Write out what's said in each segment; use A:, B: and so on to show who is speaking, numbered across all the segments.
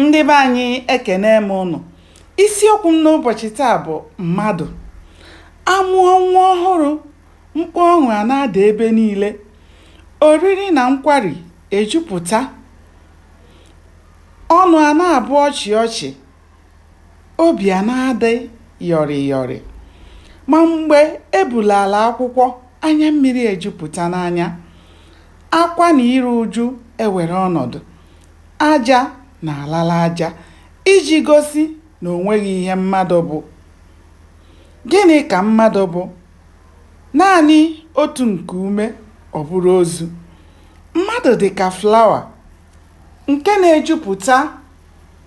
A: ndị be anyị ekene m ụnụ isiokwu m n'ụbọchị taa bụ mmadụ amụọ nwa ọhụrụ mkpu ọṅụ a na-ada ebe niile oriri na nkwari ejupụta ọnụ a na-abụ ọchị ọchị obi a na-adị yọrị yọrị ma mgbe ebulala akwụkwọ anya mmiri ejupụta n'anya akwa na iru uju ewere ọnọdụ aja na-alala aja iji gosi na o nweghị ihe mmadụ bụ. Gịnị ka mmadụ bụ? Naanị otu nku ume, ọ bụrụ ozu. Mmadụ dị ka flawa nke na-ejupụta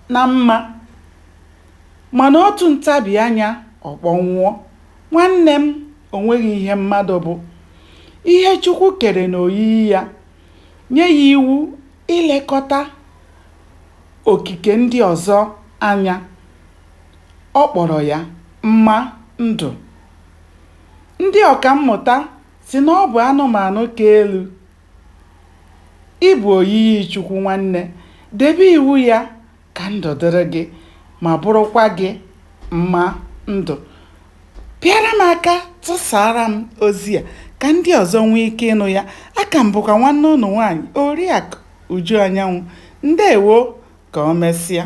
A: na mma mana otu ntabi anya ọ kpọnwụọ. Nwanne m, o nweghị ihe mmadụ bụ. Ihe Chukwu kere n'oyiyi ya, nye ya iwu ilekọta okike ndị ọzọ anya. Ọ kpọrọ ya mma ndụ. Ndị ọkammụta sị na ọ bụ anụmanụ ka elu. Ị bụ oyiyi Chukwu nwanne, debe iwu ya ka ndụ dịrị gị ma bụrụkwa gị mma ndụ pịara m aka tụsara m ozi a ka ndị ọzọ nwee ike ịnụ ya aka m bụkwa nwanne ụnụ nwaanyị oriakụ uju anyanwụ ndewo ka o mesịa